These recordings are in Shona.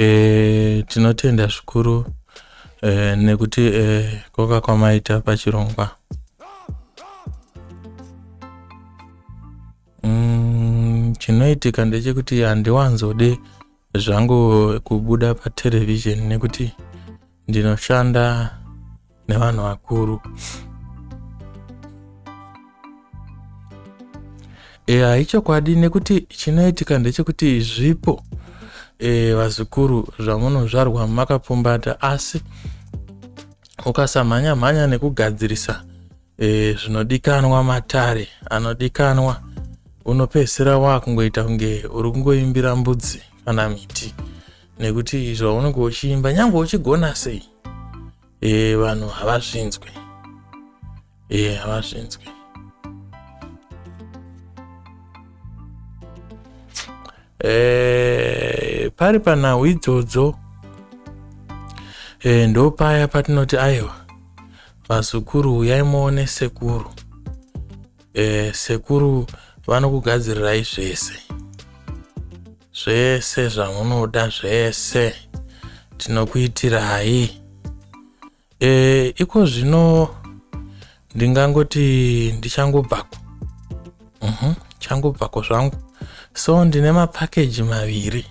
E, tinotenda zvikuru e, nekuti e, eh, koka kwamaita pachirongwa mm, chinoitika ndechekuti handiwanzode zvangu kubuda paterevhizheni nekuti ndinoshanda nevanhu vakuru eya ichokwadi nekuti chinoitika ndechekuti zvipo e, vazukuru zvamunozvarwa makapfumbata asi ukasamhanya mhanya nekugadzirisa e, zvinodikanwa matare anodikanwa unopedzisira wakungoita kunge uri kungoimbira mbudzi kana miti nekuti zvaunenge uchiimba nyange uchigona sei e, vanhu havazvinzwe e, havazvinzwe e, pari panhau idzodzo e, ndopaya patinoti aiwa vazukuru uyai muone sekuru e, sekuru vanokugadzirirai zvese zvese zvamunoda zvese tinokuitirai e, iko zvino ndingangoti ndichangobvako uh mhm, -huh, changobvako zvangu so ndine mapakeji maviri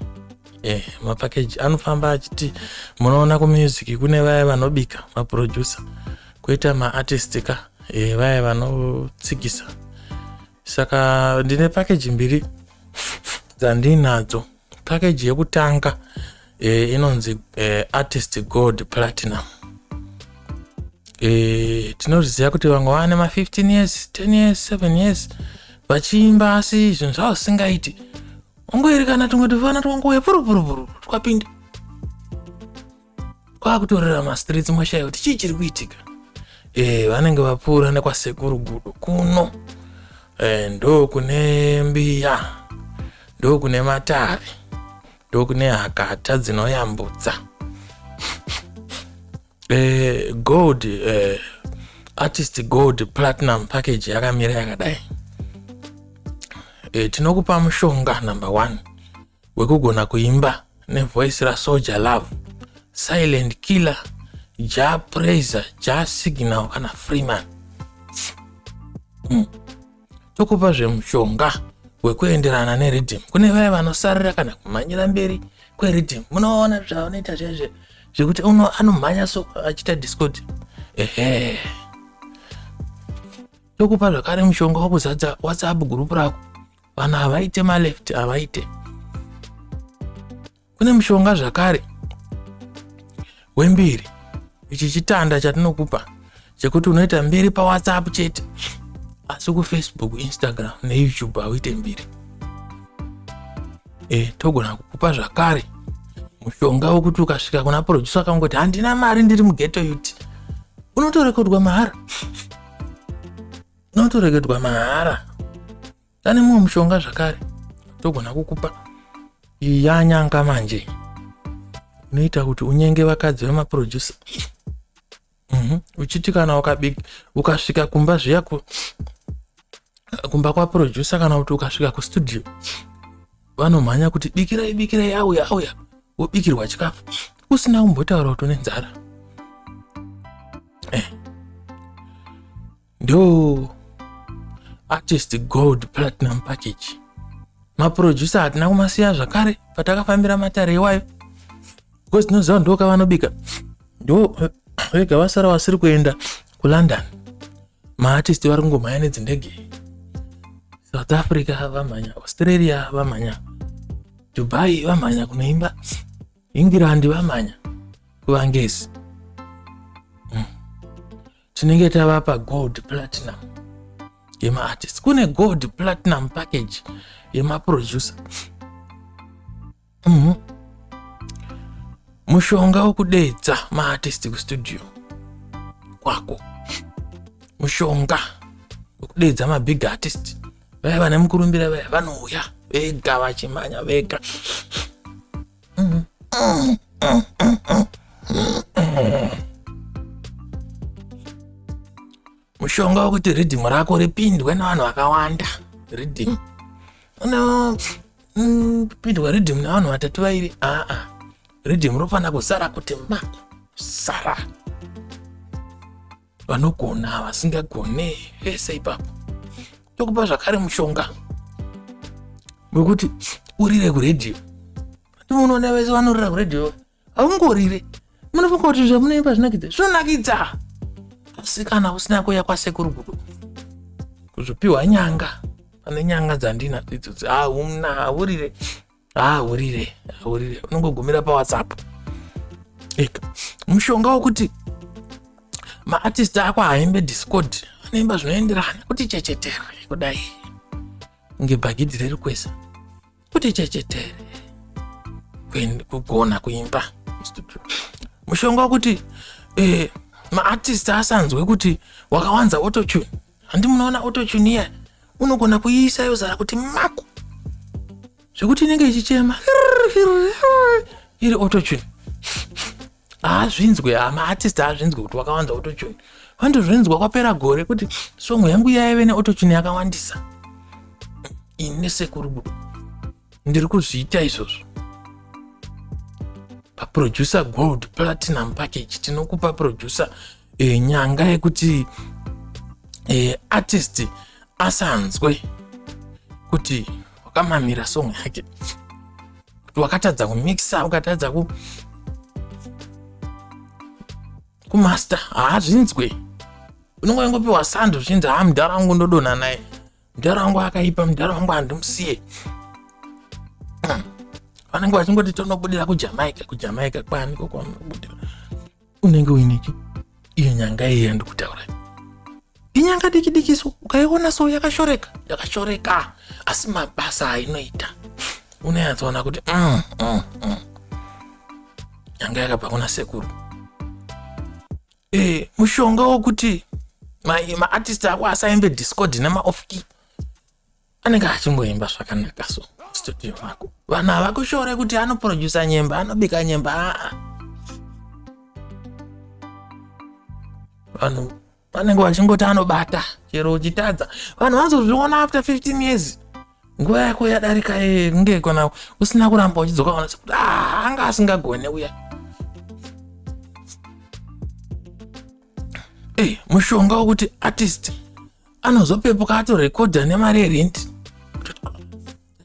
eh, mapakeji anofamba achiti munoona kumusic kune vaye vanobika maproducer koita maartist ka eh, vaye vanotsikisa saka ndine pakeji mbiri dzandiinadzo pakeji yekutanga eh, inonzi eh, artist gold platinum eh, tinozviziva kuti vamwe vane ma15 years 10 years 7 years vachiimba asi zvinhu zvavo zvisingaiti ungoerekana tumwe tuvana twangouya purupurupuru twapinda kwakutorera mastreets mashaya kuti chii chiri kuitika e, vanenge vapfuura nekwasekuru gudo kuno e, ndo kune mbiya ndo kune matavi ndo kune hakata dzinoyambutsa e, gold e, artist gold platinum package yakamira yakadai e, tinokupa mushonga number one wekugona kuimba nevoice rasoja love silent killer ja praiser ja signal kana freeman mm. tokupa zvemushonga wekuenderana neriddim kune vaya vanosarira kana kumhanyira mberi kweriddim munoona zvavanoita zvezve zvekuti uno anomhanya so achiita discoti ehe tokupa zvakare mushonga wakuzadza whatsapp gurupu rako vanhu havaite maleft havaite kune mushonga zvakare wembiri ichi chitanda chatinokupa chekuti unoita mbiri pawhatsapp chete asi kufacebook instagram neyoutube hauite mbiri e, togona kukupa zvakare mushonga wekuti ukasvika kuna producer akangoti handina mari ndiri mugeto yuti unotorekodwa mahara unotoregedwa mahara tane mumwe mushonga zvakare togona kukupa yanyanga manje unoita kuti unyenge vakadzi vemaproducer mhm. uchiti kana ukasvika kumba zviya kumba kwaproducer kana kuti ukasvika kustudio vanomhanya kuti bikirai bikirai auya auya wobikirwa chikafu usina kumbotaura kuti une nzara eh. ndo artist gold platinum package maproducer hatina kumasiya zvakare patakafambira matare iwayo because tinoziva kuti ndokavanobika ndo vega vasara vasiri kuenda kulondon maartist vari kungomhanya nedzindege south africa vamhanya australia vamhanya dubai vamhanya kunoimba england vamhanya kuvangezi tinenge tavapa gold platinum yemaartist kune gold platinum package yemaproducer mm -hmm. mushonga wokudedza maartist kustudio kwako mushonga wokudedza mabig artist vaya vane mukurumbira vaya vanouya vega vachimanya vega mushonga wekuti ridhimu rako ripindwe nevanhu vakawanda ridhimu no mm, pindwa riddim navanhu vatatu vairi aa riddim rofanira kusara kuti ma sara vanogona vasingagone vese ipapo tokupa zvakare mushonga wekuti urire kuredhiyo timunoona vese vanorira kuredhiyo haungorire munofunga kuti zvamunoimba zvinakidza zvinonakidza asi kana usina kuya kwasekuru kudo kuzopiwa nyanga pane nyanga dzandina idzo hauna haurire ahurire ahurire unongogumira pawhatsapp eka mushonga wokuti maartist ako haimbe discord anoimba zvinoenderana kuti chechetere kudai ngebhagidhi riri kwese kuti chechetere kugona kuimba mushonga wokuti eh, maartist asanzwe kuti wakawanza autotune handi munoona autotune iya unogona kuiisa yozara kuti mako zvekuti inenge ichichema iri autotune haazvinzwe amaartist haazvinzwe kuti wakawanza autotune vandozvinzwa kwapera gore kuti songo yangu yaive neautochune yakawandisa ine sekuru ndiri kuzviita izvozvo paproducer gold platinum package tinokupa producer e, nyanga yekuti e, artist asanzwe kuti wakamamira song yake kuti wakatadza kumixa ukatadza ku kumaster haazvinzwe unongoingopiwa sando zvinzi haa mudhara wangu ndodonha naye mudhara wangu akaipa mudhara wangu handimusiye hmm. vanenge vachingoti tonobudira kujamaica kujamaica kwaniko kwamunobudira unenge uineki iyo nyanga iyi yandikutaura inyanga diki diki so ukaiona so yakashoreka yakashoreka asi mabasa ainoita unayatsoona kuti mm, mm, mm. nyanga yakabva kuna sekuru eh, mushonga wokuti maartist ma ako asaimbe discord nemaofki anenge achingoimba zvakanaka so studio mako vanhu havakushore kuti anoprodusa nyemba anobika nyemba aa vanhu vanenge vachingoti anobata chero uchitadza vanhu vanozozviona after 15 years nguva yako yadarika eh, kunge kana usina kuramba uchidzoka ona sekuti ah, anga asingagone uya ey eh, mushonga wokuti artist anozopepuka atorekodha nemari yerenti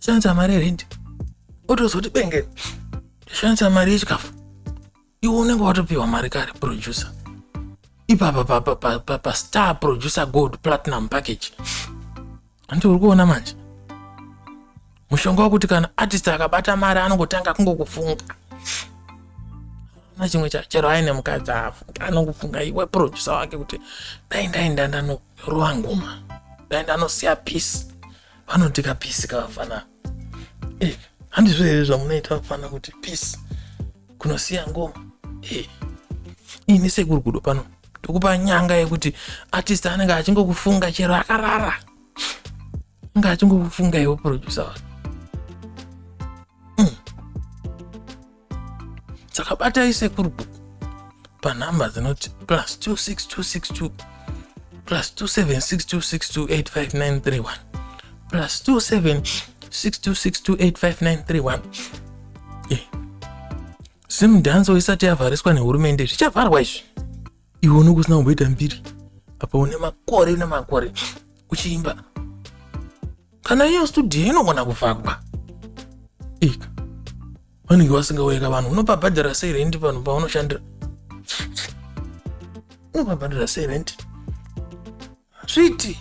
shandisa mari yerenti otozoti bengeni ndoshandisa mari yechikafu iwe unenge watopiwa mari kare producer ipapa pastar pa, pa, pa, pa producer gold platinum package hanti uri kuona manje mushonga wekuti kana artist akabata mari anongotanga kungokufunga na chimwe chero aine mukadzi afunga anongofunga iwe producer wake kuti dai ndaenda ndanorowa ngoma dai ndanosiya peace vanoti kapisi kavafana eh, handizvo here zvamunoita vafana kuti pisi kunosiya ngoma eh, ini sekuru kudo pano tokupa nyanga yekuti artist anenge achingokufunga chero akarara ange achingokufunga iwo producer wake saka batai sekuru bhuku panhamba dzinoti plus 26262 plus 27626285931 plus 27626285931 eh. zimdhanso isati yavhariswa nehurumende zvichavharwa izvi iwe unenge usina kumboita mbiri apa une makore nemakore uchiimba kana iyo studio inogona kuvakwa ika vanenge vasingauyeka vanhu unopabhadhara sei rendi vanhu paunoshandira unopabhadhara sei rendi sviti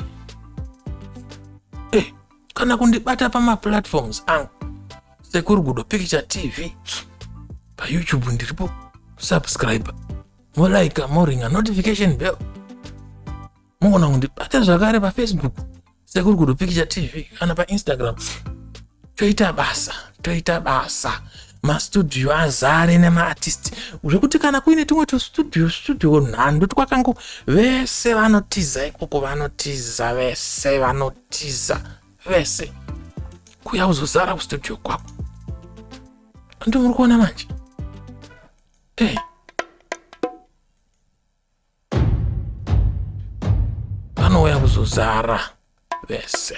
eh, kana kundibata pamaplatforms angu sekurugudo picture tv payoutube ndiripo subscriber molaika moringa notification bell mogona kundibata zvakare pafacebook sekuri kudo picture tv kana painstagram toita basa toita basa mastudio azare nemaartist zvekuti kana kuine tumwe tustudio studio nhandu twakangu vese vanotiza ikoko vanotiza vese vanotiza vese kuya uzozara kustudio kwako ndo muri kuona manje hey. Eh. vanouya kuzozara vese